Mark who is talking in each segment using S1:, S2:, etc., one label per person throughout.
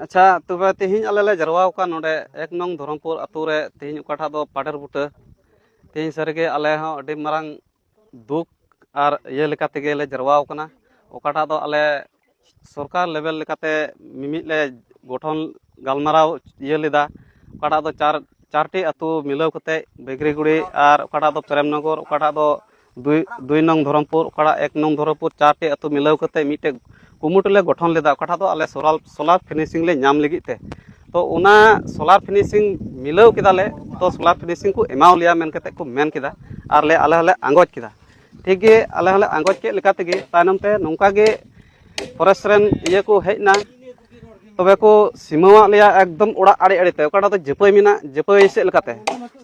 S1: ᱟᱪᱪᱷᱟ ᱛᱚᱵᱮ ᱛᱮᱦᱮᱧ ᱟᱞᱮ ᱞᱮ ᱡᱟᱨᱣᱟ ᱟᱠᱟᱱ ᱱᱚᱰᱮ ᱮᱠ ᱱᱚᱝ ᱫᱷᱚᱨᱚᱢᱯᱩᱨ ᱟᱛᱳ ᱨᱮ ᱛᱮᱦᱮᱧ ᱚᱠᱟᱴᱟᱜ ᱫᱚ ᱯᱟᱰᱮᱨ ᱵᱩᱴᱟᱹ ᱛᱮᱦᱮᱧ ᱥᱟᱹᱨᱤᱜᱮ ᱟᱞᱮ ᱦᱚᱸ ᱟᱹᱰᱤ ᱢᱟᱨᱟᱝ ᱫᱩᱠ ᱟᱨ ᱤᱭᱟᱹ ᱞᱮᱠᱟ ᱛᱮᱜᱮ ᱞᱮ ᱡᱟᱨᱣᱟ ᱟᱠᱟᱱᱟ ᱚᱠᱟᱴᱟᱜ ᱫᱚ ᱟᱞᱮ ᱥᱚᱨᱠᱟᱨ ᱞᱮᱵᱮᱞ ᱞᱮᱠᱟᱛᱮ ᱢᱤᱢᱤᱫ ᱞᱮ ᱜᱚᱴᱷᱚᱱ ᱜᱟᱞᱢᱟᱨᱟᱣ ᱤᱭᱟᱹ ᱞᱮᱫᱟ ᱚᱠᱟᱴᱟᱜ ᱫᱚ ᱪᱟᱨ ᱪᱟᱨᱴᱤ ᱟᱛᱳ ᱢᱤᱞᱟᱹᱣ ᱠᱟᱛᱮᱫ ᱵᱮᱜᱽᱨᱤᱜᱩᱲᱤ ᱟᱨ ᱚᱠᱟᱴᱟᱜ ᱫᱚ ᱯᱨᱮᱢᱱᱚᱜᱚᱨ ᱚᱠᱟᱴᱟᱜ ᱫᱚ ᱫᱩᱭ ᱫᱩᱭ ᱱᱚᱝ ᱫᱷᱚᱨᱚᱢᱯᱩᱨ ᱚᱠᱟᱴᱟᱜ ᱮᱠ ᱱᱚᱝ ᱫᱷᱚᱨᱚᱢᱯᱩᱨ ᱪᱟᱨᱴᱤ ᱟᱹᱛᱩ ᱢᱤᱞᱟᱹᱣ ᱠᱟᱛᱮᱫ ᱢᱤᱫᱴᱮᱡ ᱠᱩᱢᱩᱴ ᱞᱮ ᱜᱚᱴᱷᱚᱱ ᱞᱮᱫᱟ ᱚᱠᱟᱴᱟᱜ ᱫᱚ ᱟᱞᱮ ᱥᱳᱞᱟᱨ ᱥᱳᱞᱟᱨ ᱯᱷᱤᱱᱤᱥᱤᱝ ᱞᱮ ᱧᱟᱢ ᱞᱟᱹᱜᱤᱫ ᱛᱮ ᱛᱚ ᱚᱱᱟ ᱥᱳᱞᱟᱨ ᱯᱷᱤᱱᱤᱥᱤᱝ ᱢᱤᱞᱟᱹᱣ ᱠᱮᱫᱟ ᱞᱮ ᱛᱚ ᱥᱳᱞᱟᱨ ᱯᱷᱤᱱᱤᱥᱤᱝ ᱠᱚ ᱮᱢᱟᱣ ᱞᱮᱭᱟ ᱢᱮᱱ ᱠᱟᱛᱮᱫ ᱠᱚ ᱢᱮᱱ ᱠᱮᱫᱟ ᱟᱨ ᱞᱮ ᱟᱞᱮ ᱦᱚᱸᱞᱮ ᱟᱸᱜᱚᱪ ᱠᱮᱫᱟ ᱴᱷᱤᱠ ᱜᱮ ᱟᱞᱮ ᱦᱚᱸᱞᱮ ᱟᱸᱜᱚᱪ ᱠᱮᱫ ᱞᱮᱠᱟ ᱛᱮᱜᱮ ᱛᱟᱭᱱᱚᱢ ᱛᱮ ᱱᱚᱝᱠᱟ ᱜᱮ ᱯᱷᱚᱨᱮᱥᱴ ᱨᱮᱱ ᱤᱭᱟᱹ ᱠᱚ ᱦᱮᱡ ᱮᱱᱟ ᱛᱚᱵᱮ ᱠᱚ ᱥᱤᱢᱟᱹᱣᱟᱜ ᱞᱮᱭᱟ ᱮᱠᱫᱚᱢ ᱚᱲᱟᱜ ᱟᱲᱮ ᱟᱲᱮᱛᱮ ᱚᱠᱟᱴᱟᱜ ᱫᱚ ᱡᱟᱹᱯᱟᱹᱭ ᱢᱮᱱᱟᱜ ᱡᱟᱹᱯᱟᱹᱭ ᱥᱮᱫ ᱞᱮᱠᱟᱛᱮ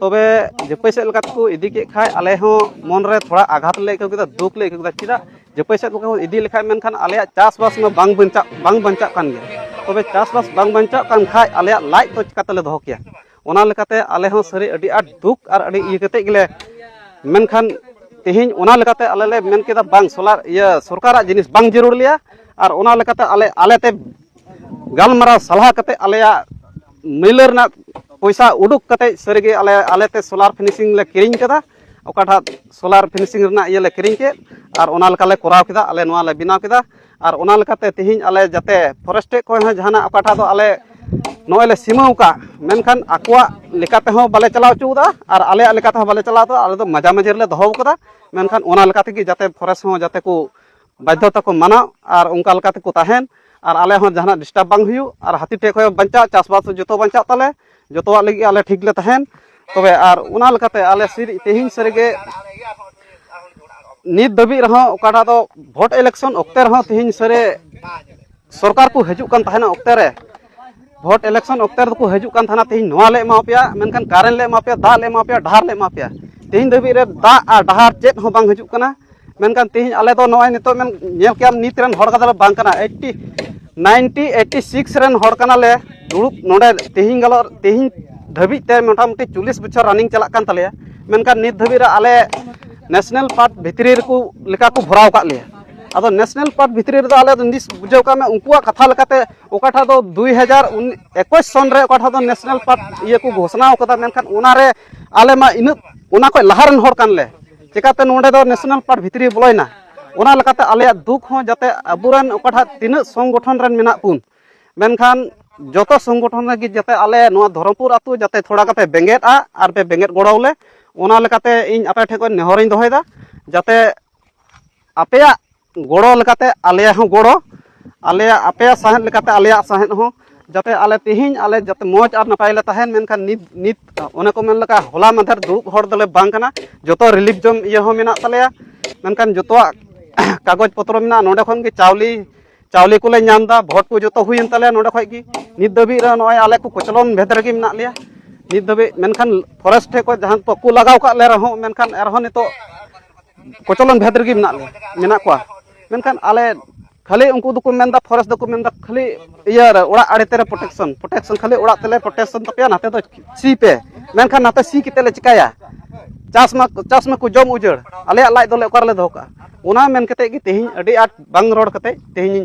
S1: ᱛᱚᱵᱮ ᱡᱟᱹᱯᱟᱹᱭ ᱥᱮᱫ ᱞᱮᱠᱟᱛᱮ ᱠᱚ ᱤᱫᱤ ᱠᱮᱫ ᱠᱷᱟᱡ ᱟᱞᱮ ᱦᱚᱸ ᱢᱚᱱᱨᱮ ᱛᱷᱚᱲᱟ ᱟᱜᱷᱟᱛ ᱞᱮ ᱟᱹᱭᱠᱟᱹᱣ ᱠᱮᱫᱟ ᱫᱩᱠ ᱞᱮ ᱟᱹᱭᱠᱟᱹᱣ ᱠᱮᱫᱟ ᱪᱮᱫᱟᱜ ᱡᱟᱹᱯᱟᱹᱭ ᱥᱮᱫ ᱠᱚ ᱤᱫᱤ ᱞᱮᱠᱷᱟᱡ ᱢᱮᱱᱠᱷᱟᱱ ᱟᱞᱮᱭᱟᱜ ᱪᱟᱥᱵᱟᱥ ᱢᱟ ᱵᱟᱝ ᱵᱟᱧᱪᱟᱜ ᱵᱟᱝ ᱵᱟᱧᱪᱟᱜ ᱠᱟᱱ ᱜᱮᱭᱟ ᱛᱚᱵᱮ ᱪᱟᱥᱵᱟᱥ ᱵᱟᱝ ᱵᱟᱧᱪᱟᱜ ᱠᱟᱱ ᱠᱷᱟᱡ ᱟᱞᱮᱭᱟᱜ ᱞᱟᱡ ᱫᱚ ᱪᱤᱠᱟᱛᱮᱞᱮ ᱫᱚᱦᱚ ᱠᱮᱭᱟ ᱚᱱᱟ ᱞᱮᱠᱟᱛᱮ ᱟᱞᱮ ᱦᱚᱸ ᱥᱟᱹᱨᱤ ᱟᱹᱰᱤ ᱟᱸᱴ ᱫᱩᱠ ᱟᱨ ᱟᱹᱰᱤ ᱤᱭᱟᱹ ᱠᱟᱛᱮᱫ ᱜᱮᱞᱮ ᱢᱮᱱᱠᱷᱟᱱ ᱛᱮᱦᱮᱧ ᱚᱱᱟ ᱞᱮᱠᱟᱛᱮ ᱟᱞᱮ ᱞᱮ ᱢᱮᱱ ᱠᱮᱫᱟ ᱵᱟᱝ ᱥᱚᱞᱟᱨ ᱤᱭᱟᱹ ᱥᱚᱨᱠᱟᱨᱟᱜ ᱡᱤᱱᱤᱥ ᱵᱟᱝ ᱡᱟᱹᱨᱩᱲ ᱞᱮᱭᱟ ᱟᱨ ᱚᱱᱟ ᱞᱮᱠᱟᱛᱮ ᱟᱞᱮ ᱟᱞᱮᱛᱮ ᱜᱟᱞᱢᱟᱨᱟᱣ ᱥᱟᱞᱦᱟ ᱠᱟᱛᱮᱫ ᱟᱞᱮᱭᱟᱜ ᱢᱟᱹᱭᱞᱟᱹ ᱨᱮᱱᱟᱜ ᱯᱚᱭᱥᱟ ᱩᱰᱩᱠ ᱠᱟᱛᱮᱫ ᱥᱟᱹᱨᱤᱜᱮ ᱟᱞᱮ ᱟᱞᱮᱛᱮ ᱥᱚᱞᱟᱨ ᱯᱷᱤᱱᱤᱥᱤᱝ ᱞᱮ ᱠᱤᱨᱤᱧ ᱠᱮᱫᱟ ᱚᱠᱟᱴᱟᱜ ᱥᱚᱞᱟᱨ ᱯᱷᱤᱱᱤᱥᱤᱝ ᱨᱮᱱᱟᱜ ᱤᱭᱟᱹ ᱞᱮ ᱠᱤᱨᱤᱧ ᱠᱮᱫ ᱟᱨ ᱚᱱᱟ ᱞᱮᱠᱟᱞᱮ ᱠᱚᱨᱟᱣ ᱠᱮᱫᱟ ᱟᱞᱮ ᱱᱚᱣᱟᱞᱮ ᱵᱮᱱᱟᱣ ᱠᱮᱫᱟ ᱟᱨ ᱚᱱᱟ ᱞᱮᱠᱟᱛᱮ ᱛᱮᱦᱮᱧ ᱟᱞᱮ ᱡᱟᱛᱮ ᱯᱷᱚᱨᱮᱥᱴ ᱴᱷᱮᱡ ᱠᱷᱚᱱ ᱦᱚᱸ ᱡᱟᱦᱟᱱᱟᱜ ᱚᱠᱟᱴᱟᱜ ᱫᱚ ᱟᱞᱮ ᱱᱚᱜᱼᱚᱭ ᱞᱮ ᱥᱤᱢᱟᱹᱣ ᱟᱠᱟᱫ ᱢᱮᱱᱠᱷᱟᱱ ᱟᱠᱚᱣᱟᱜ ᱞᱮᱠᱟ ᱛᱮᱦᱚᱸ ᱵᱟᱞᱮ ᱪᱟᱞᱟᱣ ᱦᱚᱪᱚᱣᱟᱫᱟ ᱟᱨ ᱟᱞᱮᱭᱟᱜ ᱞᱮᱠᱟ ᱛᱮᱦᱚᱸ ᱵᱟᱞᱮ ᱪᱟᱞᱟᱣ ᱦᱚᱪᱚᱣᱟᱫᱟ ᱟᱞᱮ ᱫᱚ ᱢᱟᱡᱷᱟ ᱢᱟᱹᱡᱷᱤ ᱨᱮᱞᱮ ᱫᱚᱦᱚ ᱟᱠᱟᱫᱟ ᱢᱮᱱᱠᱷᱟᱱ ᱚᱱᱟ ᱞᱮᱠᱟ ᱛᱮᱜᱮ ᱡᱟᱛᱮ ᱯᱷᱚᱨᱮᱥᱴ ᱦᱚᱸ ᱡᱟᱛᱮ ᱠᱚ ᱵᱟᱫᱽᱫᱷᱚᱛᱟ ᱠᱚ ᱢᱟᱱᱟᱣ ᱟᱨ ᱚᱱᱠᱟ ᱞᱮᱠᱟ ᱛᱮᱠᱚ ᱛᱟᱦᱮᱱ ᱟᱨ ᱟᱞᱮ ᱦᱚᱸ ᱡᱟᱦᱟᱱᱟᱜ ᱰᱤᱥᱴᱟᱵᱽ ᱵᱟᱝ ᱦᱩᱭᱩᱜ ᱟᱨ ᱦᱟᱹᱛᱤ ᱴᱷᱮᱡ ᱠᱷᱚᱡ ᱵᱟᱧᱪᱟᱜ ᱪᱟᱥᱵᱟᱥ ᱡᱚᱛᱚ ᱵᱟᱧᱪᱟᱜ ᱛᱟᱞᱮ ᱡᱚᱛᱚᱣᱟᱜ ᱞᱟᱹᱜᱤᱫ ᱟᱞᱮ ᱴᱷᱤᱠ ᱞᱮ ᱛᱟᱦᱮᱱ ᱛᱚᱵᱮ ᱟᱨ ᱚᱱᱟ ᱞᱮᱠᱟᱛᱮ ᱟᱞᱮ ᱛᱮᱦᱮᱧ ᱥᱟᱹᱨᱤᱜᱮ ᱱᱤᱛ ᱫᱷᱟᱹᱵᱤᱡ ᱨᱮᱦᱚᱸ ᱚᱠᱟᱴᱟᱜ ᱫᱚ ᱵᱷᱳᱴ ᱤᱞᱮᱠᱥᱚᱱ ᱚᱠᱛᱮ ᱨᱮᱦᱚᱸ ᱛᱮᱦᱮᱧ ᱥᱟᱹᱨᱤ ᱥᱚᱨᱠᱟᱨ ᱠᱚ ᱦᱤᱡᱩᱜ ᱠᱟᱱ ᱛᱟᱦᱮᱱᱟ ᱚᱠᱛᱮ ᱨᱮ ᱵᱷᱳᱴ ᱤᱞᱮᱠᱥᱚᱱ ᱚᱠᱛᱮ ᱨᱮᱫᱚ ᱠᱚ ᱦᱤᱡᱩᱜ ᱠᱟᱱ ᱛᱟᱦᱮᱱᱟ ᱛᱮᱦᱮᱧ ᱱᱚᱣᱟ ᱞᱮ ᱮᱢᱟ ᱯᱮᱭᱟ ᱢᱮᱱᱠᱷᱟᱱ ᱠᱟᱨᱮᱱᱴ ᱞᱮ ᱮᱢᱟ ᱯᱮᱭᱟ ᱫᱟᱜ ᱞᱮ ᱮᱢᱟ ᱯᱮᱭᱟ ᱰᱟᱦᱟᱨ ᱞᱮ ᱮᱢᱟ ᱯᱮᱭᱟ ᱛᱮᱦᱮᱧ ᱫᱷᱟᱹᱵᱤᱡ ᱨᱮ ᱫᱟᱜ ᱟᱨ ᱰᱟᱦᱟᱨ ᱪᱮᱫ ᱦᱚᱸ ᱵᱟᱝ ᱦᱤᱡᱩᱜ ᱠᱟᱱᱟ ᱢᱮᱱᱠᱷᱟᱱ ᱛᱮᱦᱮᱧ ᱟᱞᱮ ᱫᱚ ᱱᱚᱜᱼᱚᱭ ᱱᱤᱛᱚᱜ ᱢᱮᱱ ᱧᱮᱞ ᱠᱮᱜ ᱟᱢ ᱱᱤᱛ ᱨᱮᱱ ᱦᱚᱲ ᱠᱟᱛᱮ ᱵᱟᱝ ᱠᱟᱱᱟ ᱮᱭᱤᱴᱴᱤ ᱱᱟᱭᱤᱱᱴᱤ ᱮᱭᱤᱴᱴᱤ ᱥᱤᱠᱥ ᱨᱮᱱ ᱦᱚᱲ ᱠᱟᱱᱟᱞᱮ ᱫᱩᱲᱩᱵ ᱱᱚᱰᱮ ᱛᱮᱦᱮᱧ ᱜᱟᱞᱚᱜ ᱛᱮᱦᱮᱧ ᱫᱷᱟᱹᱵᱤᱡ ᱛᱮ ᱢᱚᱴᱟᱢᱩᱴᱤ ᱪᱚᱞᱞᱤᱥ ᱵᱚᱪᱷᱚᱨ ᱨᱟᱱᱤᱝ ᱪᱟᱞᱟᱜ ᱠᱟᱱ ᱛᱟᱞᱮᱭᱟ ᱢᱮᱱᱠᱷᱟᱱ ᱱᱤᱛ ᱫᱷᱟᱹᱵᱤᱡ ᱨᱮ ᱟᱞᱮ ᱱᱮᱥᱱᱮᱞ ᱯᱟᱨᱠ ᱵᱷᱤᱛᱨᱤ ᱨᱮᱠᱚ ᱞᱮᱠᱟ ᱠᱚ ᱵᱷᱚᱨᱟᱣ ᱠᱟᱜ ᱞᱮᱭᱟ ᱟᱫᱚ ᱱᱮᱥᱱᱮᱞ ᱯᱟᱨᱠ ᱵᱷᱤᱛᱨᱤ ᱨᱮᱫᱚ ᱟᱞᱮ ᱫᱚ ᱱᱤᱥ ᱵᱩᱡᱷᱟᱹᱣ ᱠᱟᱜ ᱢᱮ ᱩᱱᱠᱩᱣᱟᱜ ᱠᱟᱛᱷᱟ ᱞᱮᱠᱟᱛᱮ ᱚᱠᱟᱴᱟᱜ ᱫᱚ ᱫᱩᱭ ᱦᱟᱡᱟᱨ ᱮᱠᱩᱥ ᱥᱚᱱ ᱨᱮ ᱚᱠᱟᱴᱟᱜ ᱫᱚ ᱱᱮᱥᱱᱮᱞ ᱯᱟᱨᱠ ᱤᱭᱟᱹ ᱠᱚ ᱜᱷᱳᱥᱱᱟ ᱠᱟᱫᱟ ᱢᱮᱱᱠᱷᱟᱱ ᱚᱱᱟᱨᱮ ᱟᱞᱮ ᱢᱟ ᱤᱱᱟᱹᱜ ᱚᱱᱟ ᱠᱷᱚᱡ ᱞᱟᱦᱟ ᱨᱮᱱ ᱦᱚᱲ ᱠᱟᱱᱞᱮ ᱪᱮᱠᱟᱛᱮ ᱱᱚᱰᱮ ᱫᱚ ᱱᱮᱥᱱᱟᱞ ᱯᱟᱨᱠ ᱵᱷᱤᱛᱨᱤ ᱵᱚᱞᱚᱭᱮᱱᱟ ᱚᱱᱟ ᱞᱮᱠᱟᱛᱮ ᱟᱞᱮᱭᱟᱜ ᱫᱩᱠ ᱦᱚᱸ ᱡᱟᱛᱮ ᱟᱵᱚᱨᱮᱱ ᱚᱠᱟᱴᱟᱜ ᱛᱤᱱᱟᱹᱜ ᱥᱚᱝᱜᱚᱴᱷᱚᱱ ᱨᱮᱱ ᱢᱮᱱᱟᱜ ᱵᱚᱱ ᱢᱮᱱᱠᱷᱟᱱ ᱡᱚᱛᱚ ᱥᱚᱝᱜᱚᱴᱷᱚᱱ ᱨᱮᱜᱮ ᱡᱟᱛᱮ ᱟᱞᱮ ᱱᱚᱣᱟ ᱫᱷᱚᱨᱚᱢᱯᱩᱨ ᱟᱹᱛᱩ ᱡᱟᱛᱮ ᱛᱷᱚᱲᱟ ᱠᱟᱯᱮ ᱵᱮᱸᱜᱮᱫᱼᱟ ᱟᱨ ᱯᱮ ᱵᱮᱸᱜᱮᱫ ᱜᱚᱲᱚᱣᱟᱞᱮ ᱚᱱᱟ ᱞᱮᱠᱟᱛᱮ ᱤᱧ ᱟᱯᱮ ᱴᱷᱮᱱ ᱠᱷᱚᱱ ᱱᱮᱦᱚᱨᱤᱧ ᱫᱚᱦᱚᱭᱮᱫᱟ ᱡᱟᱛᱮ ᱟᱯᱮᱭᱟᱜ ᱜᱚᱲᱚ ᱞᱮᱠᱟᱛᱮ ᱟᱞᱮᱭᱟᱜ ᱦᱚᱸ ᱜᱚᱲᱚ ᱟᱞᱮᱭᱟᱜ ᱟᱯᱮᱭᱟᱜ ᱥᱟᱶᱦᱮᱫ ᱞᱮᱠᱟᱛᱮ ᱟᱞᱮᱭᱟᱜ ᱥᱟᱶᱦᱮᱫ ᱦᱚᱸ ᱡᱟᱛᱮ ᱟᱞᱮ ᱛᱮᱦᱮᱧ ᱟᱞᱮ ᱡᱟᱛᱮ ᱢᱚᱡᱽ ᱟᱨ ᱱᱟᱯᱟᱭ ᱞᱮ ᱛᱟᱦᱮᱱ ᱢᱮᱱᱠᱷᱟᱱ ᱱᱤᱛ ᱱᱤᱛ ᱚᱱᱮ ᱠᱚ ᱢᱮᱱ ᱞᱮᱠᱟ ᱦᱚᱞᱟ ᱢᱟᱫᱷᱮᱨ ᱫᱩᱲᱩᱵ ᱦᱚᱲ ᱫᱚᱞᱮ ᱵᱟᱝ ᱠᱟᱱᱟ ᱡᱚᱛᱚ ᱨᱤᱞᱤᱯᱷ ᱡᱚᱢ ᱤᱭᱟᱹ ᱦᱚᱸ ᱢᱮᱱᱟᱜ ᱛᱟᱞᱮᱭᱟ ᱢᱮᱱᱠᱷᱟᱱ ᱡᱚᱛᱚᱣᱟᱜ ᱠᱟᱜᱚᱡᱽ ᱯᱚᱛᱨᱚ ᱢᱮᱱᱟᱜᱼᱟ ᱱᱚᱰᱮ ᱠᱷᱚᱱ ᱜᱮ ᱪᱟᱣᱞᱮ ᱪᱟᱣᱞᱮ ᱠᱚᱞᱮ ᱧᱟᱢ ᱮᱫᱟ ᱵᱷᱳᱴ ᱠᱚ ᱡᱚᱛᱚ ᱦᱩᱭᱮᱱ ᱛᱟᱞᱮᱭᱟ ᱱᱚᱰᱮ ᱠᱷᱚᱱ ᱜᱮ ᱱᱤᱛ ᱫᱷᱟᱹᱵᱤᱡ ᱨᱮ ᱱᱚᱜᱼᱚᱭ ᱟᱞᱮ ᱠᱚ ᱠᱚᱪᱞᱚᱱ ᱵᱷᱮᱫ ᱨᱮᱜᱮ ᱢᱮᱱᱟᱜ ᱞᱮᱭᱟ ᱱᱤᱛ ᱫᱷᱟᱹᱵᱤᱡ ᱢᱮᱱᱠᱷᱟᱱ ᱯᱷᱚᱨᱮᱥᱴ ᱴᱷᱮᱱ ᱠᱷᱚᱱ ᱡᱟᱦᱟᱸ ᱠᱚ ᱞᱟᱜᱟᱣ ᱠᱟᱜ ᱞᱮ ᱨᱮᱦᱚᱸ ᱢᱮᱱᱠᱷᱟᱱ ᱮᱱᱨᱮᱦᱚᱸ ᱱᱤᱛᱚᱜ ᱠᱚᱪᱚᱞᱚᱱ ᱵᱷᱮᱫ ᱨᱮᱜᱮ ᱢᱮᱱᱟᱜ ᱞᱮᱭᱟ ᱢᱮᱱᱟᱜ ᱠᱚᱣᱟ ᱢᱮᱱᱠᱷᱟᱱ ᱟᱞᱮ ᱠᱷᱟᱹᱞᱤ ᱩᱱᱠᱩ ᱫᱚᱠᱚ ᱢᱮᱱᱫᱟ ᱯᱷᱚᱨᱮᱥᱴ ᱫᱚᱠᱚ ᱢᱮᱱᱫᱟ ᱠᱷᱟᱹᱞᱤ ᱤᱭᱟᱹ ᱨᱮ ᱚᱲᱟᱜ ᱟᱲᱮ ᱛᱮᱨᱮ ᱯᱨᱚᱴᱮᱠᱥᱚᱱ ᱯᱨᱚᱴᱮᱠᱥᱚᱱ ᱠᱷᱟᱹᱞᱤ ᱚᱲᱟᱜ ᱛᱮᱞᱮ ᱯᱨᱚᱴᱮᱠᱥᱚᱱ ᱛᱟᱯᱮᱭᱟ ᱱᱟᱛᱮ ᱫᱚ ᱥᱤ ᱯᱮ ᱢᱮᱱᱠᱷᱟᱱ ᱱᱟᱛᱮ ᱥᱤ ᱠᱟᱛᱮ ᱞᱮ ᱪᱤᱠᱟᱭᱟ ᱪᱟᱥ ᱢᱟ ᱪᱟᱥ ᱢᱟᱠᱚ ᱡᱚᱢ ᱩᱡᱟᱹᱲ ᱟᱞᱮᱭᱟᱜ ᱞᱟᱡ ᱫᱚᱞᱮ ᱚᱠᱟ ᱨᱮᱞᱮ ᱫᱚᱦᱚ ᱠᱟᱜᱼᱟ ᱚᱱᱟ ᱢᱮᱱ ᱠᱟᱛᱮ ᱜᱮ ᱛᱮᱦᱮᱧ ᱟᱹᱰᱤ ᱟᱸᱴ ᱵᱟᱝ ᱨᱚᱲ ᱠᱟᱛᱮ ᱛᱮᱦᱮᱧ